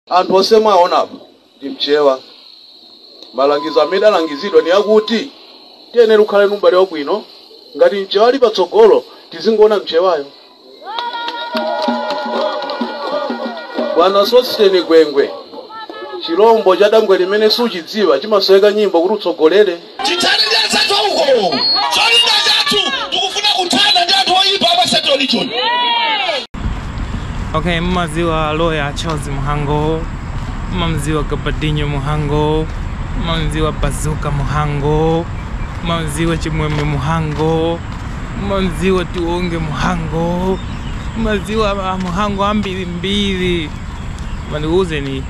Anthu onse mwawaona apa ndi Mchewa. Malangizo amene tidalangizidwa ni akuti tiyenera kukhala ni ubale wabwino. Ngati Mchewa ali patsogolo, tizingoona Mchewayo. Bwana Sosten Gwengwe, chilombo cha dambwe limene suchidziwa chimasoweka nyimbo kuti utsogolere. tithane ndi anzathu auko cholinga chathu tikufuna kuthana ndi anthu oyipa apa central region okay mmaziwa loya charles muhango mmamziwa gabadinho muhango mmamziwa bazuka muhango mmamziwa chimwemwe muhango mmamziwa tiwonge muhango mmaziwa a muhango ambirimbiri ma ndikuwuzeni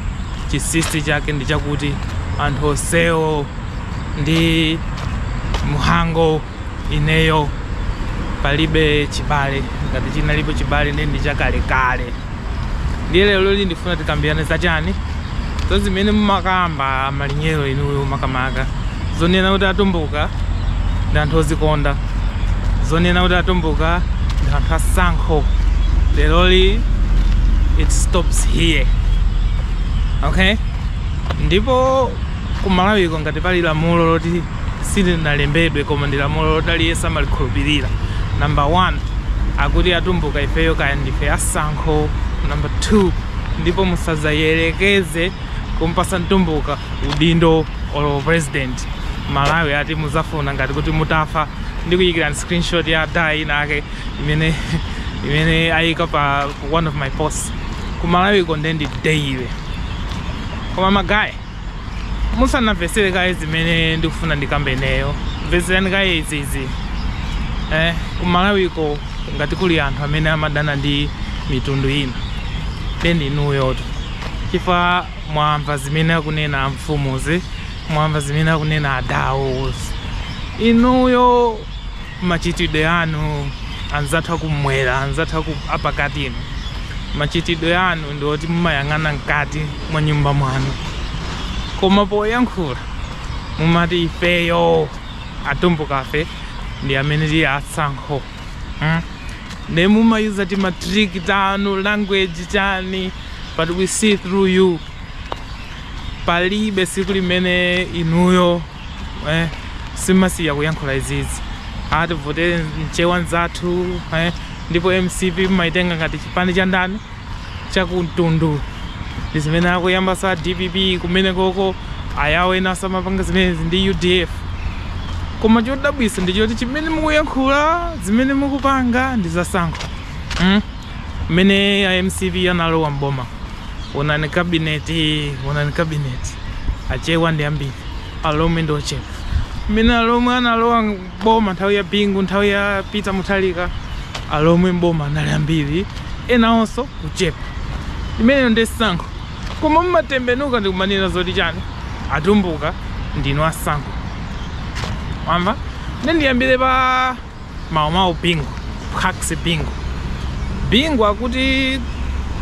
chinsinsi chake ndi chakuti anthu onsewo ndi mhango ineyo palibe chibale ngati chinalipo chibale ndi ndi chakalekale ndiye leroli ndifuna tikambirane za chani za zimene mumakamba malinyero inuyo makamaka zonena kuti atumbuka ndi anthu ozikonda zonena kuti atumbuka ndi anthu atsankho leroli it stops here okay ndipo Ku Malawiko ngati pali lamulo loti silinalembedwe koma ndi lamulo loti aliyense amalikhulupirira, number 1 akuti atumbuka ifeyo kaya ndife atsankho, number 2 ndipo musazayerekeze kumpasa mtumbuka udindo olo u president Malawi ati muzafuna ngati kuti mutafa ndikuyikirani screenshot ya dada inayake imene ayika pa one of my posts. Ku Malawiko nde ndi daily koma magaye. musanamvetsere kaye zimene ndikufuna ndikambe ineyo mvetserani kaye izizi eh, kumalawiko ngati kuli anthu amene amadana ndi mitundu ina nde ndi inuyotu chifukwa mwamva zimene akunena amfumuzi mwamva zimene akunena adawuzi inuyo Machitidwe anu, anzathu akumwera, anzathu aku, apakati inu, machitidwe anu ndi oti mumayang'ana mkati mwa nyumba mwanu, koma poyankhula mumati ifeyo atumbukafe ndi amene tili atsankho hmm? ne mumayuza timatrick tanu language chani but we see through you palibe siku limene inuyo eh, simmasiya kuyankhula izizi ati tivotere mchewa nzathu eh, ndipo mcp mmaitenga ngati chipani cha ndani chakumtundu ndi zimene akuyamba za dpp kumene koko awawo enawa samapanga zimenezi ndi udf koma chodabwisa ndi choti chimene mukuyankhula zimene mukupanga ndi zatsankho mm? mmene a mcp analowa mboma onani kabineti onani kabineti achewa ndi ambiri alomwe ndi ochepa mmene alomwe analowa mboma nthawi ya bingu nthawi ya peter muthalika alomwe mboma anali ambiri enawonso kuchepa imeneyo ndi tsankho koma mmatembenuka ndikumanena zoti chani atumbuka ndinu atsankho wamva ndendiyambire pa Mau mau Bingu, Phax Bingu. Bingu akuti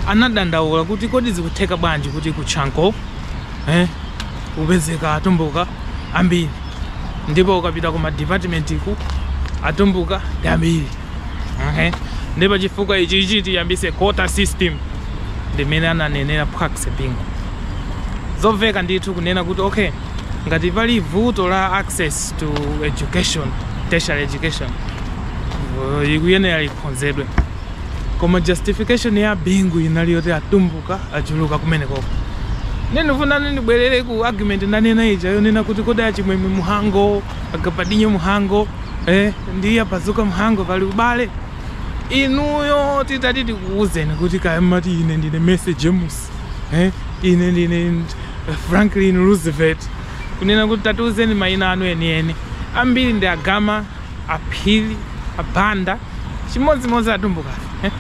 anadandaula kuti kodi zikutheka bwanji kuti ku Chanco eh, kupezeka atumbuka ambiri ndipo ukapita kuma department ku atumbuka ndi ambiri okay. ndi pachifukwa ichi ichi tiyambise quota system ndimene ananenera Phax Bingu zomveka ndithu kunena kuti okay ngati pali vuto la access to education tertiary education uh, likuyenera ikhonzedwe koma justification ya bingu inali yoti atumbuka achuluka kumenekoko ndifuna ndibwerere ku argument ndanena ija yonena kuti kodi achimwemwe mhango agabadinyo mhango eh, ndi abazuka mhango pali ubale inuyo titati tikuwuzeni kuti kaya mati ine ndine message james eh, ine ndine Franklin Roosevelt, kunena kuti, Tatiuzeni mayina anu enieni. Ambiri ndi a Gama, a Phiri, a Banda, chimodzimodzi atumbukafe. Eh?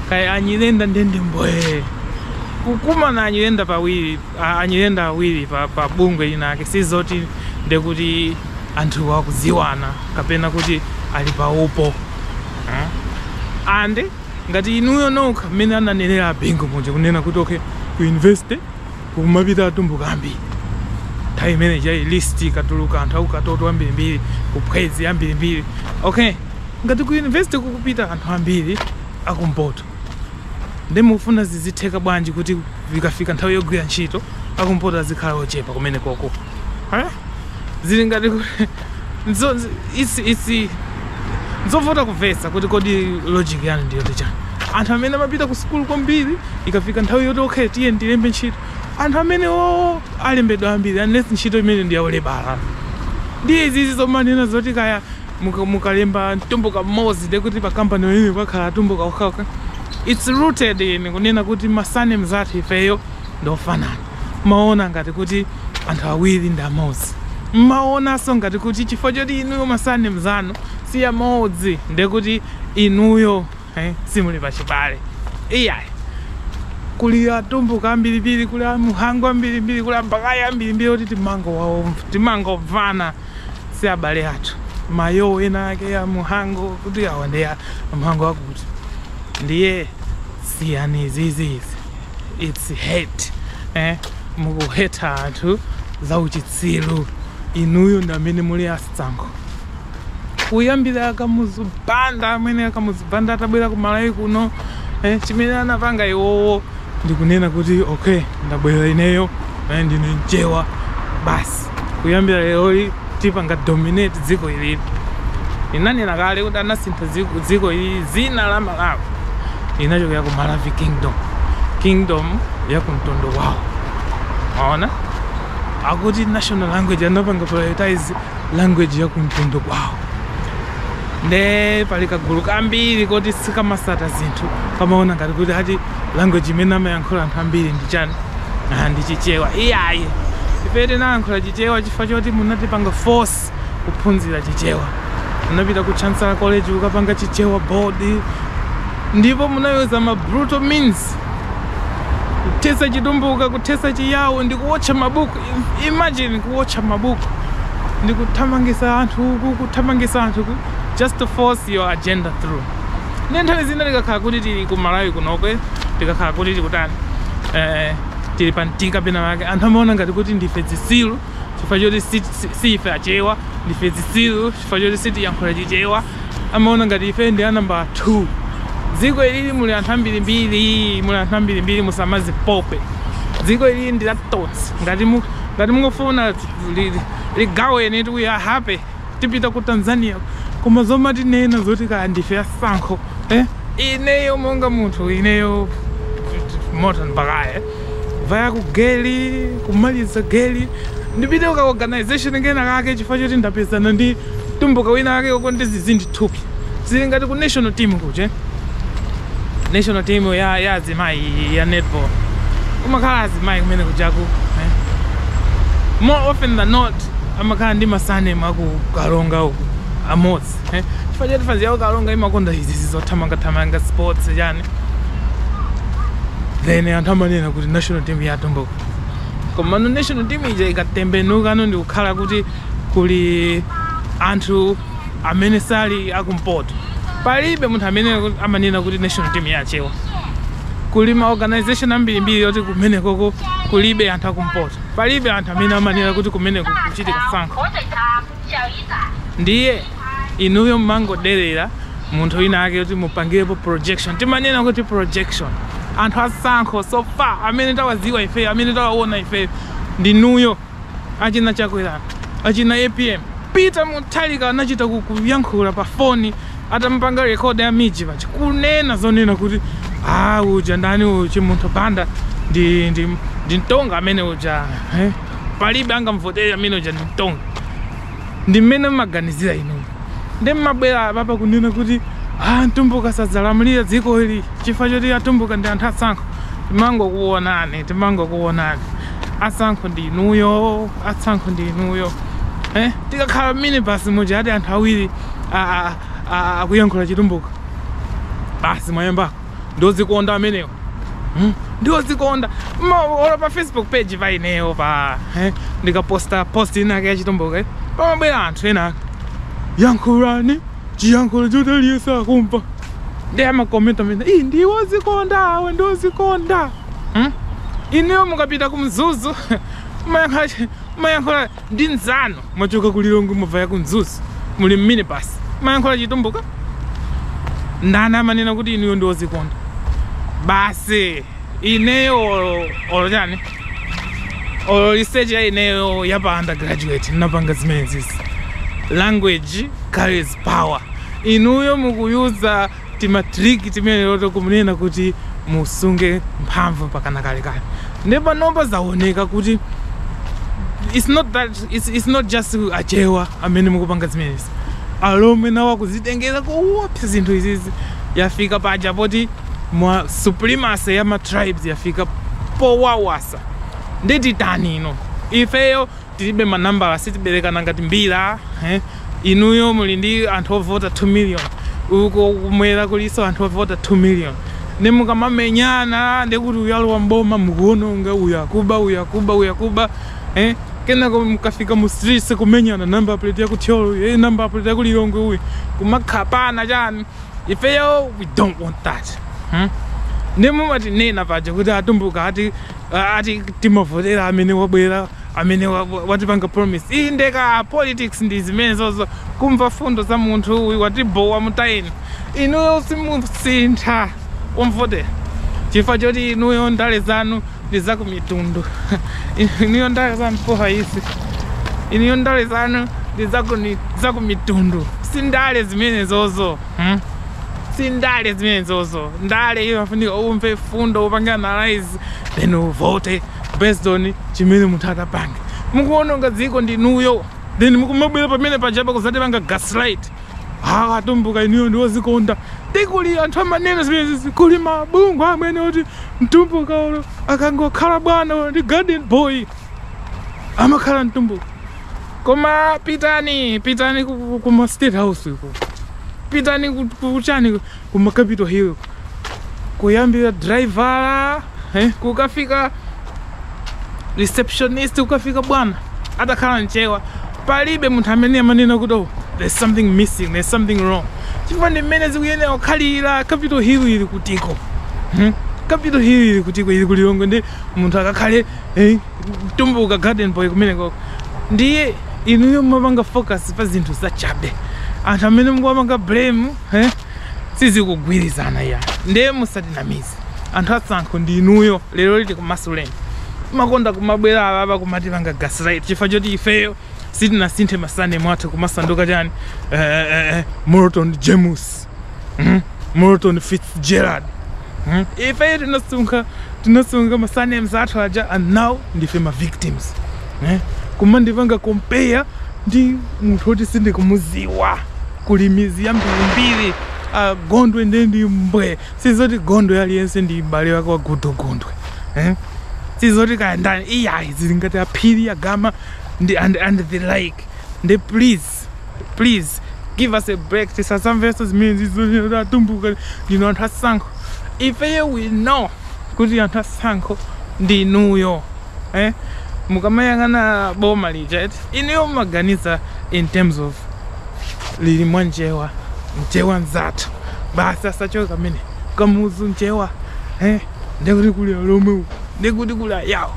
Kaya anyirenda nde ndi mbwee. Kukumana anyirenda pawiri, anyirenda awiri pa, pa bungwe lina ake sizoti ndekuti anthuwa akudziwana kapena kuti ali pa upo. Eh? And Ngati inuyo nokha mmene ananenera a Bingu muja kunena kuti okay ku university kukumapita atumbuka ambiri nthawi imene ija list ikatuluka anthu akukatoto ambirimbiri kuphwezi ambirimbiri okay ngati ku university kukupita anthu ambiri akumpoto nde mufuna zizitheka bwanji kuti ikafika nthawi yogwira ntchito akumpoto azikhala ochepa kumene koko eh? zili ngati izi nzovuta kumvetsa kuti kodi logic yanu ndi yoti chani anthu amene amapita ku sukulu kwambiri ikafika nthawi yoti okay tiyeni tilembe ntchito anthu amenewo alembedwa ambiri unless ntchito imene ndi yaulebala ndiye izizi zomanena zoti kaya mukalemba mtumbuka mmodzi nde kuti pakampani pamene pakhala atumbuka okhaokha its rooted in kunena kuti ma surnames athu ifeyo ndofanana Mmaona ngati kuti anthu awiri ndi amodzi. Mmaonanso ngati kuti chifukwa choti inuyo ma surname zanu si amodzi ndiye kuti inuyo eh, simuli pachibale. Iyayi. Kuli atumbuka ambirimbiri, kuli amuhango ambirimbiri, kuli abaghaya ambirimbiri oti timangowamva, timangomvana si abale athu. Mayo ena ake a muhango kuti awa ndi a muhango akuti ndiye siyani izizi izi. its hate eh? mukuheta anthu za uchitsiru inuyo ndi amene muli atsankho kuyambira akamuzu banda amene akamuzu banda atabwera ku malawi kuno eh, chimene anapanga iwowo ndikunena kuti okay ndabwera ineyo eh, ndine mchewa basi kuyambira leroli tipanga dominate dziko ilili inanena kale kuti anasintha dziko ili zina la malawi linachokera ku maravi kingdom kingdom ya kumtundu kwawo maona akuti national language anapanga prioritize language ya kumtundu kwawo nde pali kagulu kambiri koti sikamasata zinthu kamaona ngati kuti ati language imene amayankhula anthu ambiri ndi chani ah, ndi chichewa iyayi ife tinayankhula chichewa chifukwa choti munatipanga force kuphunzira chichewa munapita ku chancellor college kukapanga chichewa board ndipo munayuza ma brutal means kuthesa chitumbuka kuthesa chiyawo ndi kuwotcha mabuku Im- imagine kuwotcha mabuku ndi kuthamangisa anthu uku kuthamangisa anthu uku just to force your agenda through nde nthawi zina tikakhala kuti tili ku malawi kunoko tikakhala kuti tikutani eh, tili pa mtika pena pake anthu amaona ngati kuti ndife zisilu chifukwa choti si- si- si ife achewa ndife zisilu chifukwa choti sitiyankhula chichewa amaona ngati ife ndi a number 2 dziko ilili muli anthu ambirimbiri muli anthu ambirimbiri musamazipope dziko ilili ndi la tonse ngati mu- ngati mungofuna li- li- ligaweni kuti we are happy tipita ku Tanzania koma zomatinena zoti kaya ndife a sankho eh? ineyo monga munthu ineyo morton baghaya vaya ku geli kumaliza geli ndipite ka organization kena kake chifukwa choti ndapezana ndi tumbuka wina wake uko ndizizindi thupi zili ngati ku national team kuja national team ya ya azimayi ya netball kumakhala azimayi kumene kujaku eh. more often than not amakhala ndi ma surname aku karonga uku amodzi eh. chifukwa choti fanzi yawo karonga imakonda izi zizothamangathamanga sports chani then anthu amanena kuti national team ya atumbuka komano national team ija ikatembenukano ndikukhala kuti kuli anthu amene sali akumpoto palibe munthu amene amanena kuti national team ya achewa kuli ma organization ambirimbiri yoti kumenekoko kulibe anthu akumpoto palibe anthu amene amanena kuti kumeneko kuchitika sankho ndiye inuyo mmangoderera munthu wina ake yoti mupangirepo projection timanena kuti projection anthu asankho so far amene tawaziwa ifeyo amene tawaona ifeyo ndinuyo Achina Chakwera, achina apm, Peter Mutharika anachita kuyankhula pa foni atamupanga record ya MIJ paja kunena zonena kuti ah uja ndani uyu Chimunthu Banda ndi ndi ndi mtonga amene uja eh? palibe angamvotere amene uja ndi mtonga ndi mmene mmaganizira inuyo nde mmabwera apapa kunena kuti ah mtumbuka sadzalamulira dziko ili chifukwa choti atumbuka ndi anthu atsankho timangokuonani timangokuonani atsankho ndi inuyo atsankho ndi inuyo eh? tikakhala mmini basi muja ati anthu awiri akuyankhula chitumbuka basi mwayamba ndiozikonda amenewo hmm? ndiozikonda olo pa facebook page pa ineyo pa eh? ndikaposta post inake ya chitumbuka eh? pamabwera anthu enaake yankhulani chiyankhulo choti aliyense akumva nde amakomenta mene iyi ndiwozikonda awa ndiozikonda hmm? inuyo mukapita ku mzuzu mayankhula ndi mzanu mwachoka ku lilongwe muvaya ku mzuzu muli mmini basi mayankhula chitumbuka ndani amanena kuti inuyo ndi ozikonda basi ineyo olo chani olo research ya ineyo ya pa undergraduate ndinapanga zimenezizi language carries power inuyo mukuyuza timatriki timenetoto kunena kuti musunge mphamvu mpakana kalekale nde panopa zaoneka kuti it's not that it's, it's not just achewa amene mukupanga zimenezi alomwe nawo akuzitengera koopsa zinthu izizi yafika paja poti ma supremacy ya matribes yafika powawasa nde titani ino ifeyo tilibe manambala sitiberekana ngati mbira eh? inuyo muli ndi anthu ovota 2 million uko kumwera kuliso anthu ovota 2 million nde mukamamenyana ndekuti uyalowa mboma mukuononga uyakuba uyakuba uyakuba eh? kenako mukafika mu streets kumenyana namba plate yakuthyolo eh, namba plate yakulilongwe uyu kumakhapana chani ifeyo we don't want that hmm? nde mumatinena paja kuti atumbuka ati ati timavotera amene wabwera Amene wa, wa, watipanga promise iyi ndiye ka politics ndi zimenezozo kumva mfundo za munthu uyu watibowa mutayeni inuyo simusintha mumavota chifukwa choti inuyo ndale zanu ndi za kumitundu inuyo ndale zanu poha isi inuyo ndale zanu ndi za kuni- za kumitundu si ndale zimenezozo hmm? si ndale zimenezozo ndale iyo afunika umve mfundo upange analyze then uvote based on chimene munthu atapange mukuononga dziko ndinuyo then mukumabwera pamene pajapa kuzatipanga gaslight awa atumbuka inuyo ndi odzikonda dzikoli anthu amanena zimenezi kuli mabungwe amene oti mtumbuka ulo akangokhala bwana ulo ndi garden boy amakhala mtumbuka koma pitani pitani ku, ku, ku ma state house uko pitani ku- kuchani kuma capital hill kuyambira driver eh, kukafika receptionist kukafika bwana atakhala mchewa palibe munthu amene amanena kuti oh, there's something missing there's something wrong chifukwa ndi mmene zikuyenera kukhalira capital hill ili kutiko hmm? capital hill ili kutiko ili ku Lilongwe ndi munthu akakhale eh, mtumbuka garden boy kumenekoko ndiye inuyo mumapanga focus pa zinthu zachabe anthu amene mukuwapanga blame eh? sizikugwirizana ya ndiye musatinamize anthu atsankho ndi inuyo lero lino tikumasuleni mumakonda kumabwera apapa kumatipanga gaslight chifukwa choti ifeyo sitinasinthe ma surname athu kumasanduka chani eh, eh, eh, Morton James mm? Morton Fitzgerald mm? ifeyo tinasunga tinasunga ma surnames athu aja and now ndife ma victims eh? kumandipanga compare ndi munthu oti sindikumudziwa kuli midzi yambirimbiri uh, gondwe nde ndi mbwe sizoti gondwe aliyense ndi m'bale wake wa Goodall Gondwe eh? sizoti kaya ndani iyayi zili ngati aphiri agama ndi and, and the like nde please Nde please give us a break tisazamvenso zimenezi zonyera atumbuka ndinu anthu atsankho ifeyo we know kuti anthu atsankho ndinuyo eh? mukamayang'ana boma lija eti inuyo mumaganiza in terms of lili mwa mchewa mchewa nzathu basi asachoke amene kamuzu mchewa eh? ndekuti kuli alomwe uku ndekuti kuli ayawo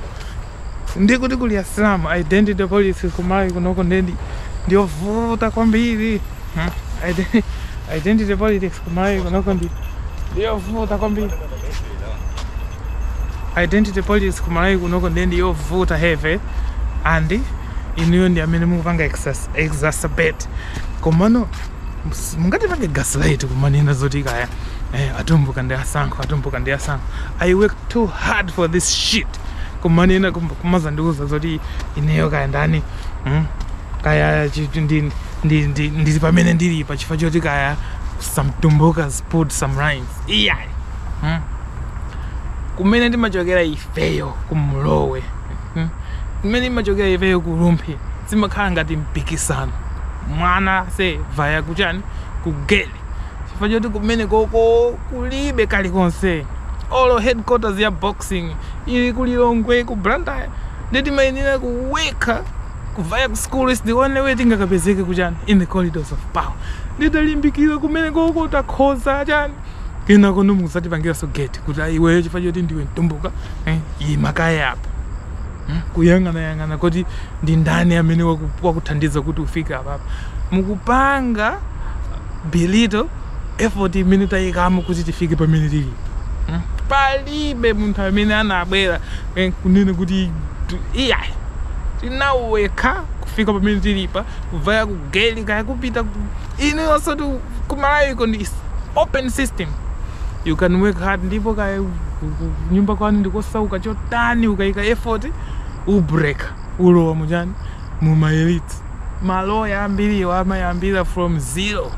Ndiye kuti kuli Asilamu, identity politics ku Malawi kunoko ndiye ndi ndiyovuta kwambiri. Hmm? Ide- Identity politics ku Malawi kunoko ndi ndiyovuta kwambiri. Identity politics ku Malawi kunoko ndiye ndiyovuta heavy and inuyo ndi amene mukupanga exas- exacerbate. Komano mus- mungatipange gaslight kumanena zoti kaya eh, atumbuka ndi atsankho atumbuka ndi atsankho. I work too hard for this shit. kumanena kum- kumazandiuza zoti ineyo kaya ndani mm? kaya chi- ndi- ndi- ndi- ndili pamene ndili pa chifukwa choti kaya some tumbukas put some rhymes iyayi mm? kumene ndimachokera ifeyo kumlowe mm? kumene ndimachokera ifeyo kuRumphi zimakhala ngati mpikisano mwana sevaya kuchani kugeli chifukwa choti kumenekoko kulibe kalikonse olo headquarters ya boxing ili ku Lilongwe ku Blantyre nde timayenera kuwekha kuvaya ku school is the only way tingakapezeke kuchani in the corridors of power nde talimbikira kumenekoko takhoza chani kenako nde muzatipangiranso get kuti ayi iweyo chifukwa choti ndiwe mtumbuka eh, ima kaye apa hmm? kuyang'anayang'ana kuti ndi ndani amene wakuthandiza kuti ufike apapa mukupanga belittle effort imene tayikamo kuti tifike pamene tilipa hmm? palibe munthu amene anabwera eh, kunene kuti iyayi tinawekha kufika pamene tilipa kuvaya kugeli kaya kupita inuyonsotu kuMalawiko ndi is open system you can work hard ndipo kaya ku- ku- kunyumba kwanu ndikosauka chotani ukayika effort ubreak ulowa muchani mumaelite maloya ambiriwo amayambira from zero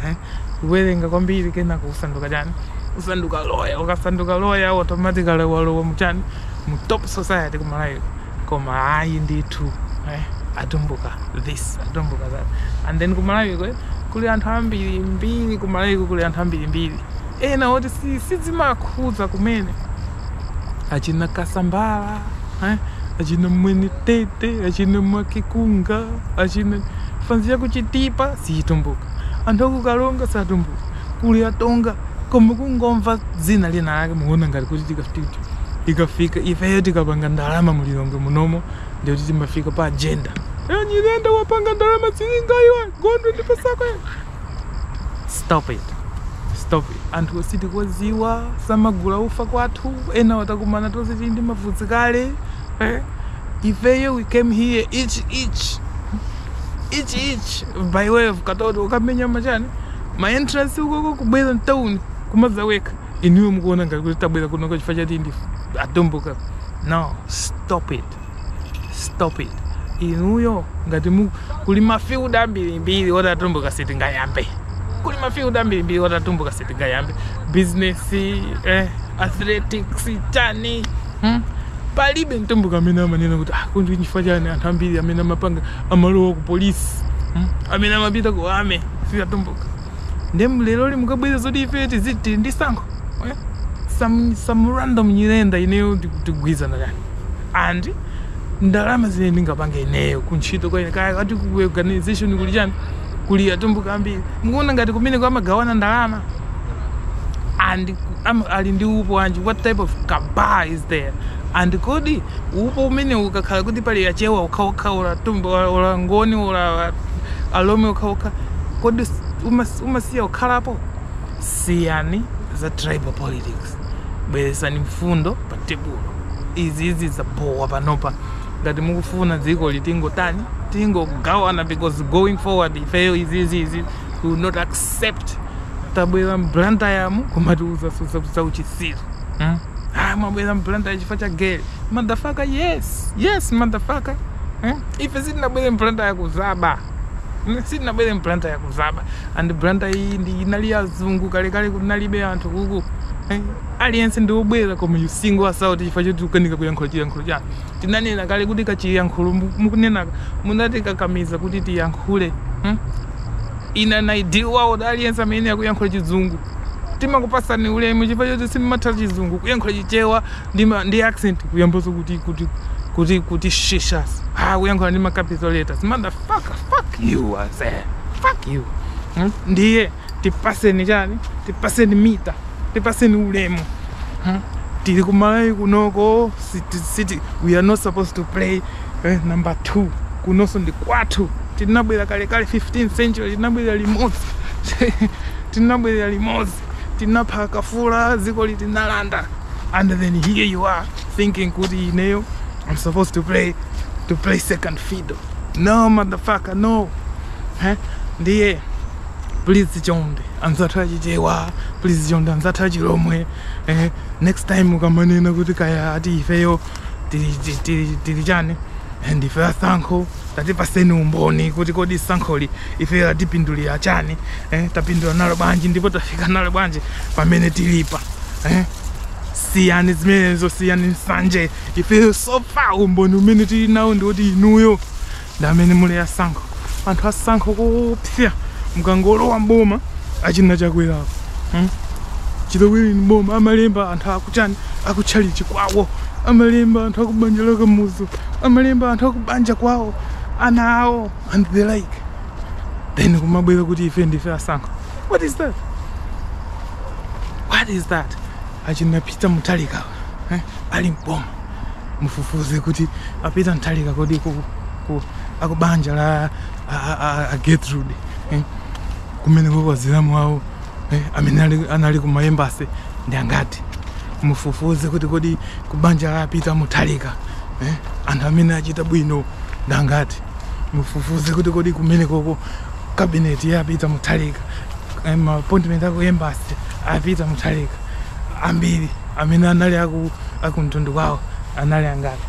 eh? kuwerenga kwambiri kenako kusanduka chani kusanduka loya ukasanduka loya automatically walowa muchani mu top society kuMalawiko koma ayi ndithu eh, atumbuka this atumbuka that and then kumalawiko eh, kuli anthu ambiri mbiri kumalawiko kuli anthu ambiri mbiri ena oti si- sizimakhuza kumene achina kasambala eh, achina mwenetete achina mwakikunga achina fanz yakuChitipa siyitumbuka anthu akuKaronga satumbuka kuli atonga koma kungomva dzina lina lake muona ngati kuti tikafi ikafika ifeyo tikapanga ndalama mu lilongwe munomo ndiye kuti timafika pa agenda Eh, nyirenda wapanga ndalama zilinga iwe gondwe ndipo sako iwe." stop it stop it anthu osatidziwa samagula ufa kwathu ena watakumana tonse tili ndi mavuzi kale eh? ifeyo we came here each each each each by way of katoto ukamenya machani ma entrance ukoko kubwera mtown kumazawekha inuyo mukuona ngati kuti tabwera kunoko chifukwa choti ndi atumbuka no stop it stop it inuyo ngati mu kuli mafield ambirimbiri oti atumbuka sitingayambe kuli mafield ambirimbiri oti atumbuka sitingayambe business eh, athletics chani hmm? palibe mtumbuka amene amanena kuti ah, kodi ndi chifukwa chani anthu ambiri amene amapanga amalowa ku polisi hmm? amene amapita ku army si atumbuka nde leroli mukabweza zoti ife tiziti tili ndi sankho eh? some, some random nyirenda ineyo tikugwirizana kani and ndalama zimene ndingapange ineyo kuntchito kwa ine kaya kati ku organization kuli chani kuli atumbuka ambiri mukuona ngati kumeneko amagawana ndalama and am, ali ndi upo wanji what type of cabal is there and kodi upo umene ukakhala kuti pali achewa okhaokha ola tumbu ola ngoni ola alomwe okhaokha kodi umas- umasiya kukhalapo siyani za tribal politics bweresani mfundo pa tebulo izizi zabowa panopa ngati mukufuna dziko litingotani tingogawana because going forward ifeyo izizi izi we will not accept tabwera mBlantyre muno kumatiuza za uchisiru hmm? ah, mwabwera mBlantyre chifukwa cha gere motherfucker yes yes motherfucker hmm? ife sitinabwere mBlantyre kuzaba hmm? sitinabwere mBlantyre kuzaba and Blantyre iyi ndi inali yazungu kalekale kunalibe anthu kuku hmm? aliyense ndi obwera koma you single us out chifukwa choti mukanika kuyankhula chiyankhulo chanu tinanena kale kuti kachiyankhulo mukunenaka munatikakamiza kuti tiyankhule hmm? in an ideal world aliyense amene akuyankhula chizungu timakupasani ulemu chifukwa choti simumatha chizungu kuyankhula chichewa ndi ma ndi accent kuyamboso kuti kuti kuti kuti shishas ah kuyankhula ndi ma capital letters motherfucker fuck you I say fuck you hmm? ndiye tipaseni chani tipaseni mita tipaseni ulemu hmm? tili kumalawi kunoko siti, siti, we are not supposed to play eh, number 2 kunonso ndi kwathu tinabwera kalekale 15th century tinabwera limodzi tinabwera limodzi tinapha akafula dzikoli tinalanda and then here you are thinking kuti ineyo i'm supposed to play to play second fiddle no motherfucker no eh? ndiye please chonde anzathu achichewa please chonde anzathu achilomwe eh? next time ukamanena kuti kaya ati ifeyo tili- tili tili chani and ife asankho tatipaseni umboni kuti kodi sankholi ifeyo latipindulira chani eh? tapindula nalo bwanji ndipo tafika nalo bwanji pamene tilipa eh? siyani zimenezo siyani nsanje ifeyo so far umboni umene tili nawo ndiwoti inuyo ndi amene muli ndi sankho anthu asankho koopsa mukangolowa mboma achina Chakwerapo hmm? chiloweleni mboma amalemba anthu akuchani akutchalichi kwawo amalemba anthu akubanja la Kamuzu amalemba anthu akubanja kwawo ana awo and the like then kumabwera kuti ife ndife asankho what is that what is that achina Peter Mutharikawa eh? ali m'boma mufufuze kuti a Peter Mutharika kodi ku, ku, akubanja la a, a, a, a Gertrude eh? kumene kwa azilamu awo Eh, amene ali, anali ku maembasi ndi angati? Mufufuze kuti kodi kubanja a Peter Mutharika eh, anthu amene achita bwino ndi angati? Mufufuze kuti kodi kumene koko cabinet ya Peter Mutharika eh, ma appointment aku embassy a Peter Mutharika ambiri amene anali aku, aku mtundu kwawo anali angati?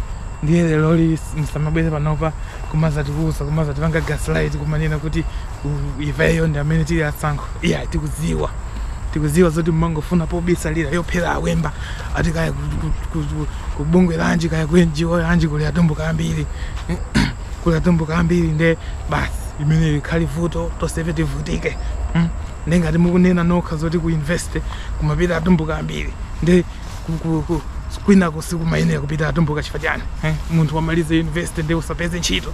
Ndiye leroli msamabwere panopa kumazatiuza kumazatipanga gaslight kumanena kuti ifeyo ndi amene tili asankho iya tikuziwa tikuziwa zoti mmangofuna pobisalira pophera awemba ati kaya kubungwe lanji kaya ku NGO lanji kuli atumbuka ambiri kuli atumbuka ambiri nde basi limenelo likhale vuto tonsefe tivutike hmm? nde ngati mukunena nokha zoti ku university kumapita atumbuka ambiri nde kwinako sikumayenera kupita atumbuka chifukwa chani eh? munthu wamalize university nde usapeze ntchito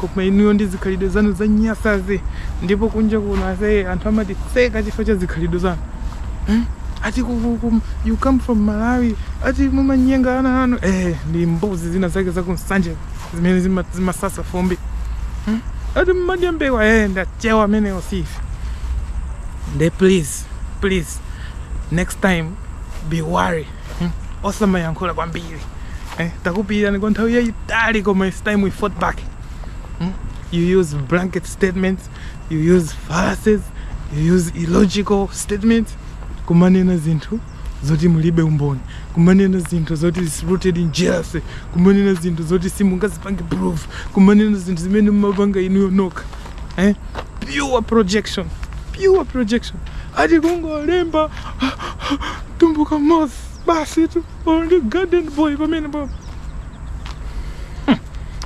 Koma inuyo ndi zikhalidwe zanu zonyasazi ndipo kunja kuno aise anthu amatiseka chifukwa cha zikhalidwe zanu hmm? ati kukukum you come from Malawi ati mumanyenga ana anu eh, ndi mbuzi zina zake za kunsanje zimene zima- zimasasa fumbi hmm? ati mmadya mbewa eh, ndi achewa amenewo si ife nde please please next time be wary Hmm? osamayankhula kwambiri eh, takupiyirani kwa nthawi yayitali koma it's time we fought back hmm? you use blanket statements you use fallacies you use illogical statements kumanena zinthu zoti mulibe umboni kumanena zinthu zoti is rooted in jealousy kumanena zinthu zoti simungazipange prove kumanena zinthu zimene mumapanga inuyo nokha eh? pure projection pure projection ati kungolemba mtumbuka mmodzi basitu only garden boy pamenepa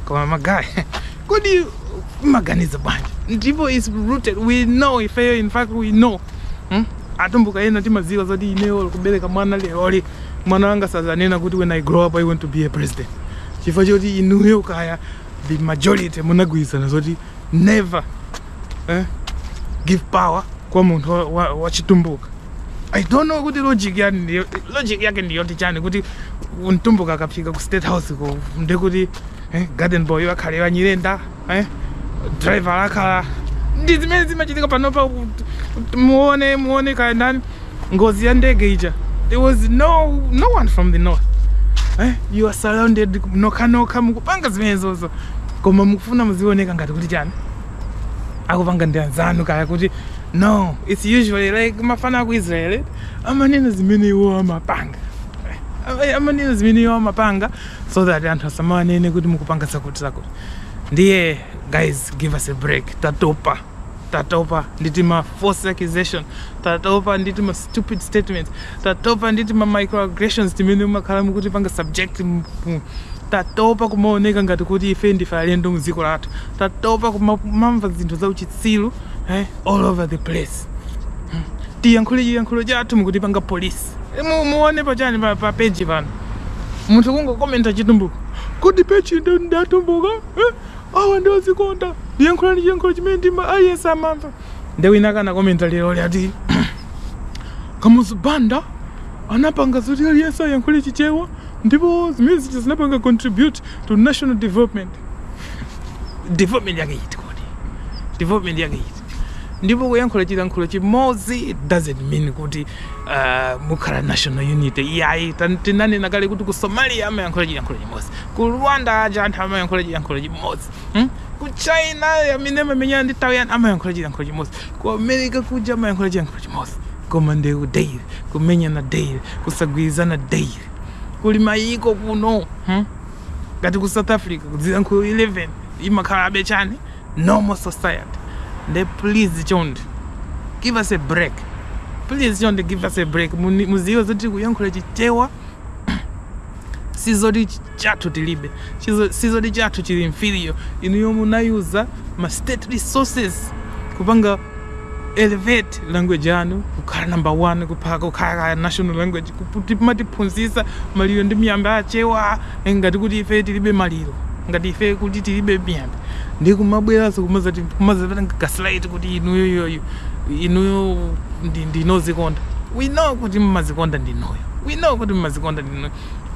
koma magaye kodi mmaganiza bwanji ndipo is rooted we know ifeyo in fact we know hmm? atumbuka ena timaziwa zoti ineyo kubereka mwana leroli mwana wanga sazanena kuti when i grow up i want to be a president chifukwa choti inuyo kaya the majority munagwirizana zoti never eh, give power kwa munthu wa- wa- wachitumbuka i don't know kuti logic yani ndiyo- logic yake ndiyoti chani kuti mtumbuka akafika ku state house ko nde kuti eh, garden boy akhale wa Nyirenda eh, driver akhala ndi zimene zimachitika panopa muone muone kaya ndani ngozi ya ndege ija there was no, no one from the north eh? you are surrounded nokhanokha mukupanga zimenezozo koma mukufuna muzioneka ngati kuti chani akupanga ndi anzanu kaya kuti no its usually like mafana aku israel amanena zimene iwo amapanga Eh, amanena zimene iwo amapanga so that anthu asamanene kuti mukupanga zakuti zakuti ndiye guys give us a break tatopa tatopa ndi tima false accusation tatopa ndi tima stupid statements tatopa ndi tima microaggressions timene mumakhala mukutipanga subject tatopa kumaoneka ngati kuti ife ndife alendo mdziko lathu tatopa kumamva zinthu za uchitsilu eh, all over the place hmm. tiyankhule chiyankhulo chathu mukutipanga police eh, muone pachani pa, pa page pano munthu kungokomenta Chitumbuka kuti page ndi ya Atumbuka eh? awa ndi odzikonda muziyankhula chiyankhulo chimene aliyense amamva nde wina wake anakomenta lerolo ati Kamuzu Banda anapanga zoti aliyense ayankhule chichewa ndipo zimene zija zinapanga contribute to national development development yake iti kodi development yake iti Ndipo kuyankhula chilankhulo chimodzi it doesn't mean kuti uh, mukhala national unity iyayi. Tan- Tinanena kale kuti ku Somalia amayankhula chilankhulo chimodzi, ku Rwanda aja anthu amayankhula chilankhulo chimodzi hmm? ku China amene amamenyana ndi Taiwan amayankhula chilankhulo chimodzi, ku America kuja amayankhula chilankhulo chimodzi, koma ndewu daily, kumenyana daily, kusagwirizana daily, kuli mayiko kuno hmm? ngati ku south africa kuli zilankhulo 11 imakhalabe chani normal society nde please chonde give us a break please chonde give us a break Muni- mudziwe zoti kuyankhula chichewa sizoti chathu tilibe Chizo- sizoti chathu chili inferior inuyo munayuza ma state resources kupanga elevate language yanu kukhala number one kukhala kaya national language kumatiphunzitsa maliro ndi miyambo ya Achewa eh, ngati kuti ife tilibe maliro ngati ife kuti tilibe miyambo ndi kumabweranso kumadzati kumadzatipanga gaslight kuti inuyo yoyo inuyo ndi ndinu odzikonda we know kuti mmadzikonda ndinuyo we know kuti mmadzikonda ndinuyo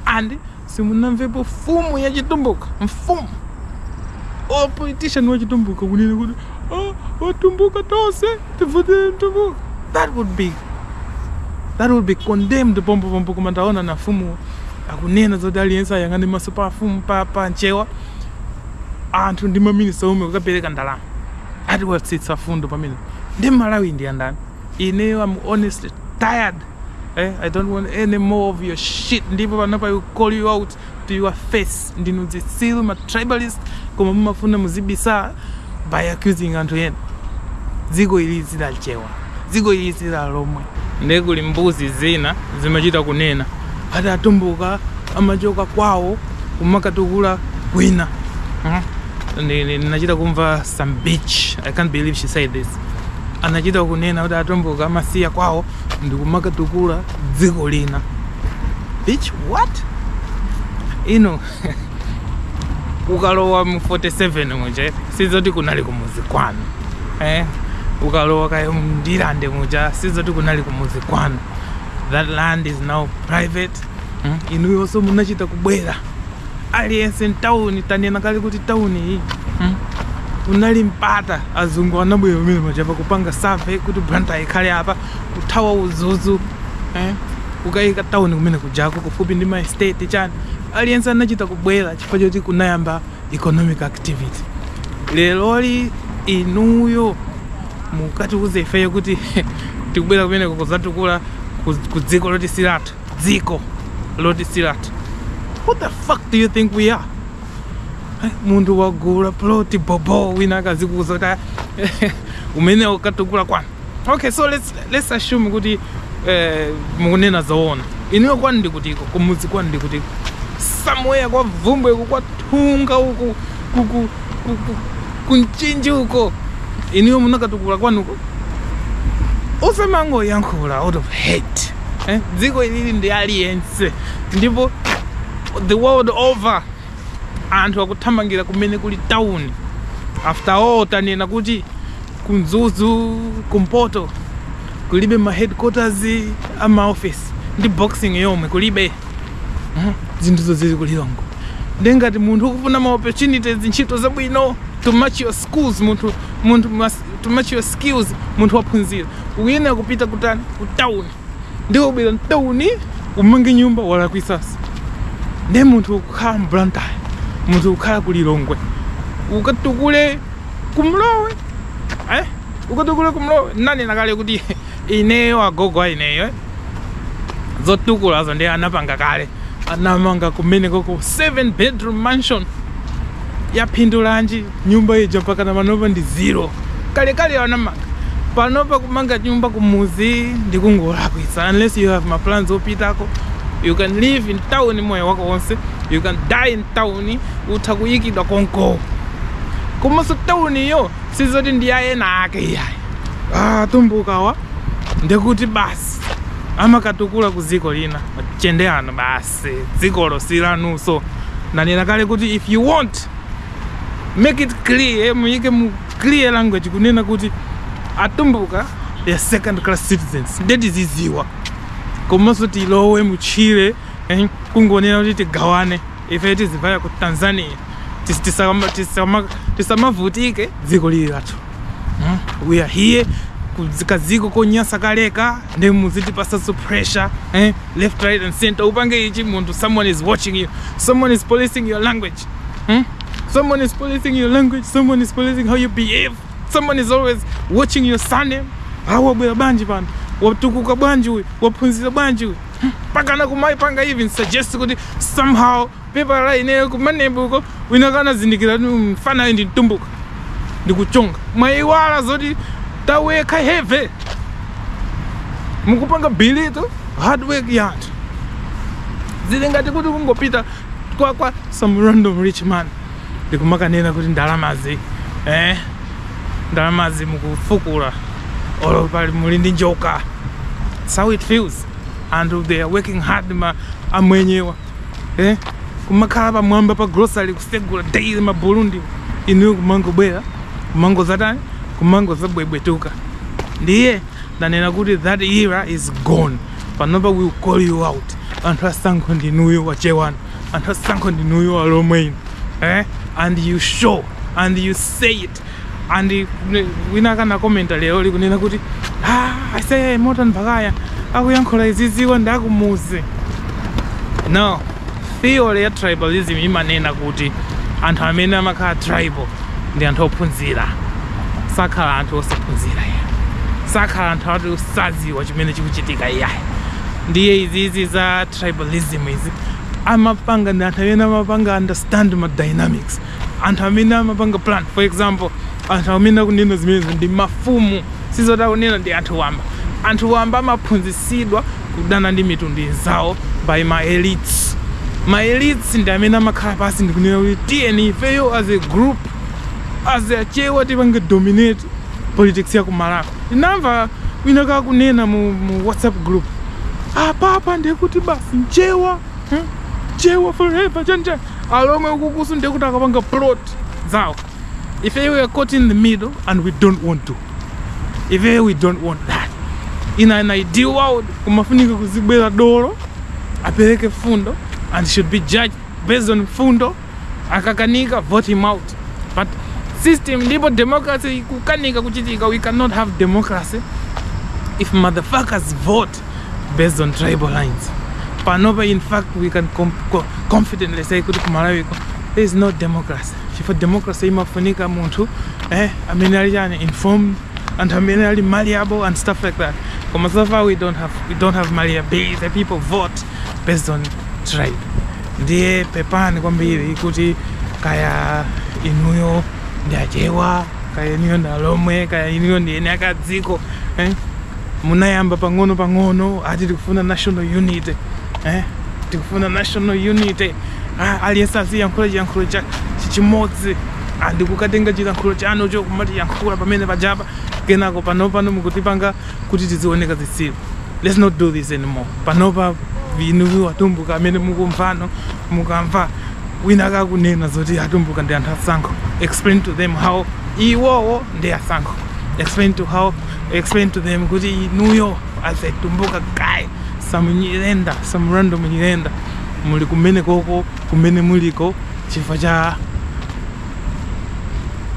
and simunamvepo mfumu ya chitumbuka mfumu or politician wa chitumbuka kunena kuti "Ah, Atumbuka tonse tivotele mtumbuka that would be that would be condemned pompo pompo koma taonanapo mfumu akunena zoti aliyense ayang'ane maso pa mfumu pa, pa nchewa anthu ndi maminista omwe kukapereka ndalama ati watsitsa mfundo pamene ndi Mmalawi ndi andani Ineyo am honestly tired eh? I don't want any more of your shit ndipo panopa I'll call you out to your face ndinu zitsiru ma tribalist koma mumafuna muzibisa by accusing anthu ena dziko ili si la Achewa dziko ili si la Alomwe ndiye kuli mbuzi zina zimachita kunena ati atumbuka amachoka kwawo kumakatukula kwina hmm? ndinachita kumva some bitch i can't believe she said this anachita kunena kuti atumbuka amasiya kwawo ndikumakatukula dziko lina bitch what inu ukalowa mu 47 muja sizoti kunali kumuzi kwanu eh? ukalowa kaya mndilande muja sizoti kunali kumuzi kwanu that land is now private hmm? inuyonso munachita kubwera aliyense mtawuni tanena kale kuti tawuni iyi hmm? unali mpata azungu anabwera pamenepajapa kupanga survey kuti Blantyre ikhale apa kuthawa uzuzu eh? kukayika tauni kumene kujako kufupi ndi ma estate chani aliyense anachita kubwera chifukwa choti kunayamba economic activity leroli inuyo mukatiuze ifeyo kuti tikubwera kumeneko kuzatukula ku dziko loti silathu dziko loti silathu what the fuck do you think we are munthu wagula plot bobo wina akazikuuza kuti ah, ukanakatukula kwanu okay so let's, let's assume kuti eh, mukunena zoona inuyo kwanu ndikutiko kumudzi kwanu ndikutiko somewhere kwa vumbwe uku kwa thunga uku kuku kuku ku Mchinji uko inuyo munakatukula kwanuko osamangoyankhula out of hate eh? dziko ili ndi la aliyense ndipo The world over anthu akuthamangira kumene kuli town. After all tanena kuti ku Mzuzu kumpoto kulibe ma headquarters a ma office ndi boxing yomwe kulibe. Mhm. Zinthu zonse zili ku Lilongwe. Nde ngati munthu ukufuna ma opportunities ntchito zabwino to match your schools munthu munthu mas- to match your skills munthu waphunzira. Uyenera kupita kutani ku town. ndiye ubwera mtauni umange nyumba walakwitsanso ndiye munthu ukukhala mu Blantyre munthu ukukhala ku lilongwe ukatukule kumlowe eh? ukatukule kumlowe nanena kale kuti ineyo agogo a ineyo eh? zotukulazo ndiye anapanga kale anamanga kumenekoko 7 bedroom mansion yaphindulanji Nyumba ija mpakana panopa ndi zero. Kalekale anamanga. Panopa kumanga nyumba kumuzi ndi kungolakwitsa. Unless you have ma plans opitako, you can live in town moyo wako wonse, you can die in town, utha kuyikidwa konko. Komanso town iyo sizoti ndi ya ena ake iyayi. Ah, tumbukawa ndekuti basi amakatukula ku dziko lina. Machende ano basi. basi dzikolo silanuso ndanena kale kuti if you want make it clear muyike mu clear language kunena kuti atumbuka they are second class citizens nde tiziziwa komanso tilowe mutchire eh, kungonena kuti tigawane ife tizivaya ku tanzania tisamavutike dziko lili lathu Hmm? We are here ku dziko kadziko konyasa kaleka nde muzitipasanso pressure eh? left right and center upange ichi munthu someone is watching you someone is policing your language hmm? someone is policing your language someone is policing how you behave someone is always watching your surname awa wabwera bwanji pano watukuka bwanji uyu waphunzira bwanji uyu mpaka anakumaipanga even suggest kuti somehow Pepala ineyo kumanebu uko wina kanazindikira kuti mfana ndi mtumbuka ndikuchonga mwayiwala zoti tawekha have mukupanga belittle hard work ya anthu zili ngati kuti kungopita kwa some random rich man ndikumakanena kuti ndalamazi eh ndalamazi mukufukula olo pali muli ndi njoka That's how it feels anthu they are working hard ma amwenyewa eh? kumakhala pamwamba pa grocery kusegula daily ma Burundi inuyo kumangobwera kumangozatani kumangozabwebwetuka ndiye ndanena kuti that era is gone panopa we'll call you out anthu asankho ndinuyo achewa inu anthu asankho ndinuyo alomwe inu eh? and you show and you say it and wina aka nakomenta lero likunena kuti ah, ase Morton Baghaya akuyankhula iziziwa ndi akumuzi no theory ya tribalism imanena kuti anthu amene amakhala tribal ndi anthu ophunzira sakhala anthu osaphunzira iyayi sakhala anthu ati osaziwa chimene chikuchitika iyayi ndiye izizi za tribalism izi amapanga ndi anthu amene amapanga understand ma dynamics anthu amene amapanga plan for example anthu amene akunena zimenezo ndi mafumu sizoti akunena ndi anthu wamba anthu wamba amaphunzitsidwa kudana ndi mitundu inzawo by ma elites ma elites ndi amene amakhala pansi ndikunena kuti tiyeni ifeyo as a group as Achewa tipange dominate politics ya ku Malawi ndinamva wina kakunena mu, mu whatsapp group apapa ndekuti basi mchewa hmm? chewa forever chanjani alomwe ukukuso ndiye kuti akapanga plot zawo ife we are caught in the middle and we don't want to ife we don't want that in an ideal world kumafunika kuzibwera dolo apereke fundo and should be judged based on fundo akakanika vote him out but system ndipo democracy kukanika kuchitika we cannot have democracy if motherfuckers vote based on tribal lines panopa in fact we can com co confidently say kuti ku malawi kuno there is no democracy chifukwa democracy imafunika munthu eh, amene ali informed anthu amene ali malleable and stuff like that koma so far we don't have, we don't have malleability the people vote based on tribe ndiye pepani kwambiri kuti kaya inuyo ndi achewa kaya inuyo ndi alomwe kaya inuyo ndi eni akadziko eh? Munayamba pang'ono pang'ono akuti tikufuna national unity eh? tikufuna national unity ah, aliyense aziyankhula chiyankhulo chimodzi ah, ndikukatenga chiyankhulo chanu chokumatiyankhula pamene pajapa kenako panopa mukutipanga kuti tizioneka zitsiru let's not do this anymore panopa inuyo atumbuka amene mukumva mukamva wina akunena zoti atumbuka ndi anthu asankho explain to them how iwowo ndi asankho explain to how explain to them kuti inuyo as a tumbuka guy some nyirenda some random nyirenda muli kumene koko kumene muliko chifukwa cha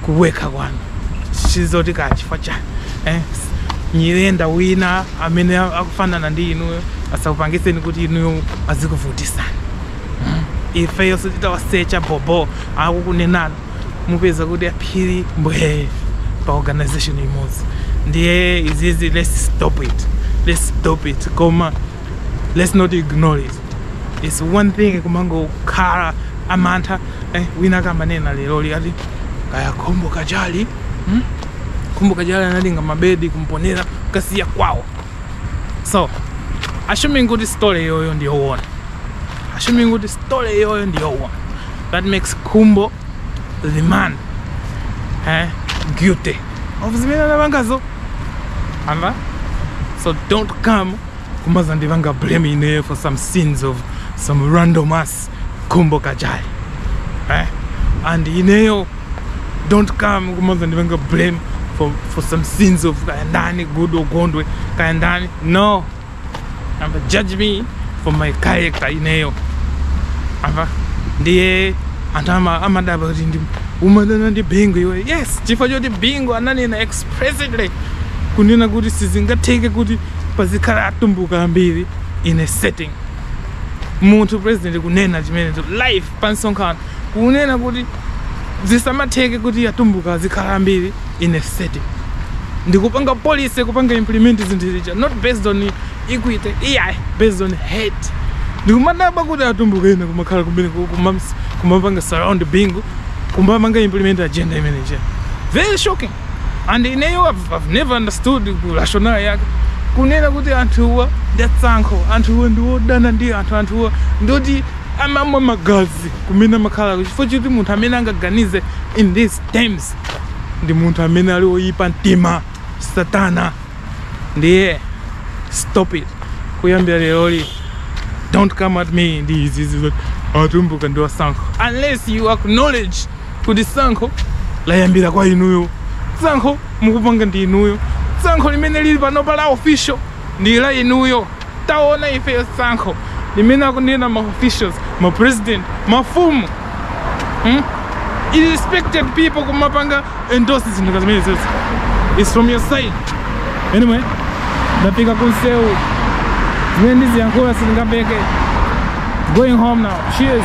kuwekha kwanu chisatike chifukwa cha eh? nyirenda wina amene akufanana ndi inuyo asakupangiseni kuti inuyo azikuvutisani ifeyo tititawasecha bobo akukunenani mupeza kuti aphiri mbwee pa organization imodzi ndiye izizi let's stop it let's stop it koma let's not ignore it it's one thing kumangokhala amantha eh, wina akamanena lero lino ati kaya khumbo kachali hmm? khumbo kachali anatenga mabedi ku mponela kukasiya kwawo so assuming kuti story iyoyo ndiyowona assuming kuti story yoyo ndiyowona That makes Khumbo the man eh, guilty of zimene anapangazo amva so don't come kumazandipanga blame ineyo for some sins of some random ass Khumbo Kachali eh? and ineyo don't come kumazandipanga blame for, for some sins of kayandani goodall gondwe kayandani no amva judge me for my character ineyo amva ndiye anthu ama- amadabwa kuti nde umadana ndi bingu iweyo yes chifukwa choti bingu ananena explicitly kunena kuti sizingatheke kuti pazikhala atumbuka ambiri in a setting munthu president kunena chimenecho live pa msonkhano kunena kuti zisamatheke kuti atumbuka azikhala ambiri in a setting ndikupanga policy kupanga implement zinthu zija not based on equity iyayi based on hate ndikumadabwa kuti atumbuka ena kumakhala kumene ku- kumams- kumapanga surround bingu kumapanga implement agenda imeneja very shocking and ineyo I've never understood ku rationale yake kunena kuti anthuwa ndi asankho anthuwa ndi odana ndi anthu anthuwa ndi oti amamwa magazi kumene amakhala chifukwa choti munthu amene angaganize in these terms ndi munthu amene ali oyipa mtima satana ndiye stop it kuyambira lero don't come at me ndi izizi Atumbuka ndi asankho unless you acknowledge kuti sankho layambira kwa inuyo sankho mukupanga ndi inuyo sankho limene lili panopa la official ndi la inuyo taona ifeyo sankho limene akunena ma officials ma president mafumu hmm? respected people kumapanga endorse zinthu ngati zimenezi is from your side anyway ndafika kumsewu zimene ndiziyankhula sizingatheke going home now cheers